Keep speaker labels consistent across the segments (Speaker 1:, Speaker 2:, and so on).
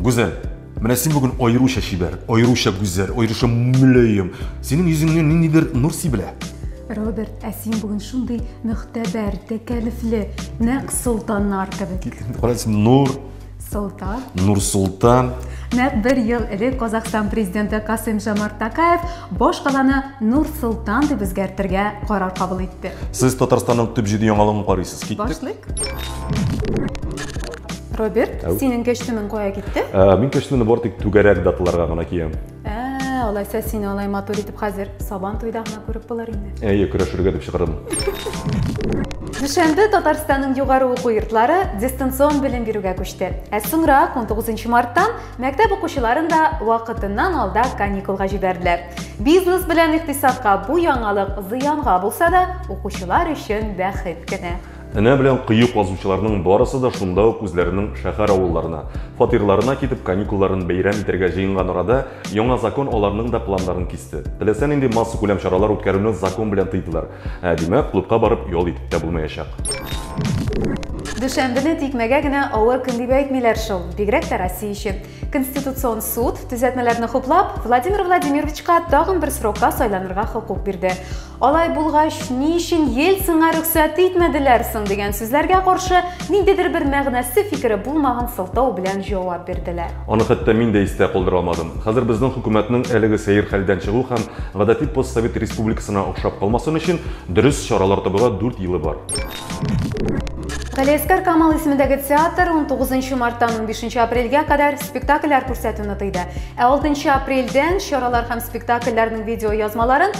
Speaker 1: Гүзәл, менә син бүген аеруча чибәр, аеруча гүзәл, аеруча мөлаем. Синең йөзеңнән ниндидер нур сибелә. Роберт, ә
Speaker 2: син бүген шундый мөхтәбәр, тәкәлефле, нәкъ солтаннар кебек. Кара син нур,
Speaker 1: Солтан.
Speaker 2: Нурсултан.
Speaker 1: Нәкъ бер ел
Speaker 2: элек Казахстан президенты Касым Жомарт Такаев баш каланы Нур-Султан дип үзгәртергә карар кабул итте. Сез Татарстанның
Speaker 1: төп җиде яңалыгын карыйсыз. Киттек. Башлык.
Speaker 2: Роберт, синең кәчтүмең кая китте? Ә, мин кәчтүмне бары тик
Speaker 1: түгәрәк даталарга гына киям. Ә, алайса
Speaker 2: сине алай матур итеп хәзер Сабан туйда гына күреп булыр инде. Әйе, көрәшергә дип чыгырдым.
Speaker 1: Дүшәнбе
Speaker 2: Татарстанның югары уку йортлары дистанцион белем бирүгә күчте. Ә соңрак 19 марттан мәктәп укучыларын да вакытыннан алда каникулга җибәрделәр. Бизнес белән икътисадка бу яңалык зыянга булса да, укучылар өчен бәхет кенә. Энә белән кыю
Speaker 1: казучыларның барысы да шунда ук үзләренең шәһәр авылларына, фатирларына китеп каникулларын бәйрәм итәргә җыенган арада, яңа закон аларның да планнарын кисте. Теләсә нинди массакүләм чаралар үткәрүне закон белән тыйдылар. Ә, димәк, клубка барып ял итеп тә булмаячак. Дүшәмбене
Speaker 2: тикмәгә генә авыр көн дип әйтмиләр шул, бигрәк тә Россия өчен. Конституцион суд, төзәтмәләрне хуплап, Владимир Владимировичка тагын бер срокка сайланырга хокук бирде. Алай булгач, ни өчен Ельцинга рөхсәт итмәделәр соң дигән сүзләргә каршы ниндидер бер мәгънәсе фикере булмаган сылтау белән җавап бирделәр. Аны хәтта мин дә
Speaker 1: истә калдыра алмадым. Хәзер безнең хөкүмәтнең әлеге сәер хәлдән чыгу һәм гадәти постсовет республикасына охшап калмасын өчен дөрес чаралар табуга дүрт елы бар. Галиәскар
Speaker 2: Камал исемендәге театр 19 марттан 15 апрельгә кадәр спектакльләр күрсәтүне тыйды. Ә 6 апрельдән чаралар һәм спектакльләрнең видеоязмаларын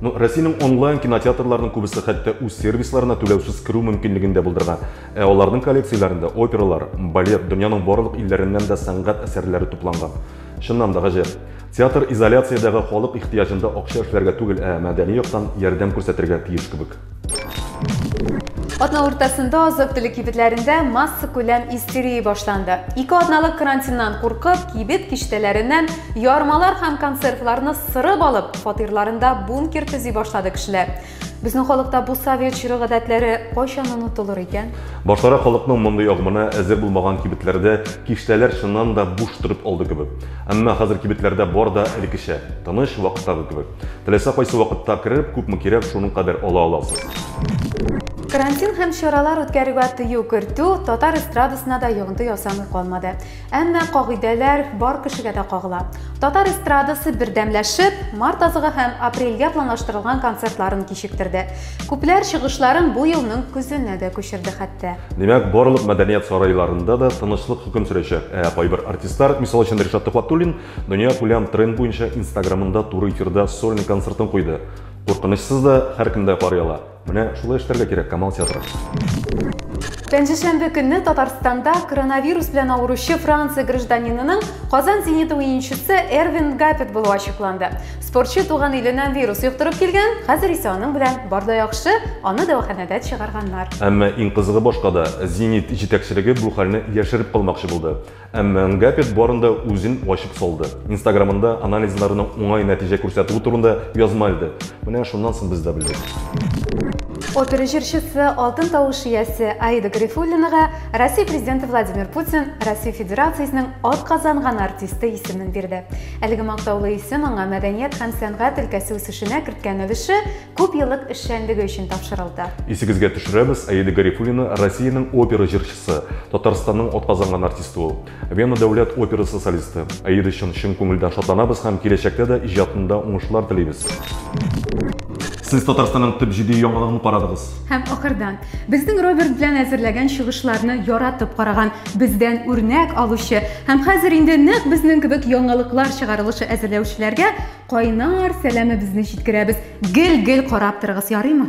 Speaker 1: Ну, Россиянең онлайн кинотеатрларының күбесе хәтта үз сервисларына түләүсез керү мөмкинлеген дә булдырган. Ә аларның коллекцияләрендә опералар, балет, дөньяның барлык илләреннән дә сәнгать әсәрләре тупланган. Чыннан да гаҗәп. Театр изоляциядәге халык ихтыяҗында акча эшләргә түгел, ә мәдәни яктан ярдәм күрсәтергә тиеш кебек. Атна
Speaker 2: уртасында азык-төлек кибетләрендә масса күләм истерия башланды. Ике атналык карантиннан куркып, кибет киштәләреннән ярмалар һәм консервларны сырып алып, фатирларында бункер төзи башлады кешеләр. Безнең халыкта бу совет чоры гадәтләре кайчан онытылыр икән? Баштарак халыкның
Speaker 1: мондый агымына әзер булмаган кибетләрдә киштәләр чыннан да буш торып алды кебек. Әмма хәзер кибетләрдә бар да элеккечә, тыныч вакыттагы кебек. Теләсә кайсы вакытта кереп, күпме кирәк, шуның кадәр ала аласыз.
Speaker 2: Карантин һәм чаралар үткәрүгә тыю кертү татар эстрадасына да йогынты ясамый калмады. Әмма кагыйдәләр бар кешегә дә кагыла. Татар эстрадасы бердәмләшеп, март азыгы һәм апрельгә планлаштырылган концертларын кичектерде. Күпләр чыгышларын бу елның көзенә дә күчерде хәтта. Димәк, барлык
Speaker 1: мәдәният сарайларында да тынычлык хөкем сөрәчәк. Ә кайбер артистлар, мисал өчен Ришат Төхвәтуллин, Дөнья күләм тренд буенча Инстаграмында туры эфирда сольный концертын куйды. Куркынычсыз да һәркемдә карый ала. Менә шулай эшләргә кирәк Камал театры. Пәнҗешәмбе
Speaker 2: көнне Татарстанда коронавирус белән авыручы Франция гражданинының Казан Зениты уенчысы Эрвин Гапет булуы ачыкланды. Спортчы туган иленнән вирус йоктырып килгән, хәзер исә аның белән бар да яхшы, аны дәваханәдә чыгарганнар. Әмма иң кызыгы
Speaker 1: башкада. Зенит җитәкчелеге бу хәлне яшереп калмакчы булды. Әмма Нгапет барын да үзен ачып салды. Инстаграмында анализларының уңай нәтиҗә күрсәтүе турында язма элде. Менә шуннан соң без дә белдек.
Speaker 2: Опера җырчысы, алтын тавыш иясе Аида Гарифуллинага Россия президенты Владимир Путин Россия Федерациясенең атказанган артисты исемен бирде. Әлеге мактаулы исем аңа мәдәният һәм сәнгать өлкәсе үсешенә керткән өлеше Күп еллык эшчәнлеге өчен тапшырылды. Исегезгә төшерәбез,
Speaker 1: Аида Гарифуллина Россиянең опера җырчысы, Татарстанның атказанган артисты ул. Вена дәүләт операсы солисты. Аида өчен чын күңелдән шатланабыз һәм киләчәктә дә иҗатында уңышлар телибез. Сез Татарстанның төп җиде яңалыгын карадыгыз. Һәм ахырдан,
Speaker 2: безнең Роберт белән әзерләгән чыгышларны яратып караган, бездән үрнәк алучы һәм хәзер инде нәкъ безнең кебек яңалыклар чыгарылышы әзерләүчеләргә Кайнар сәламебезне җиткерәбез. Гел-гел карап торыгыз, ярыймы?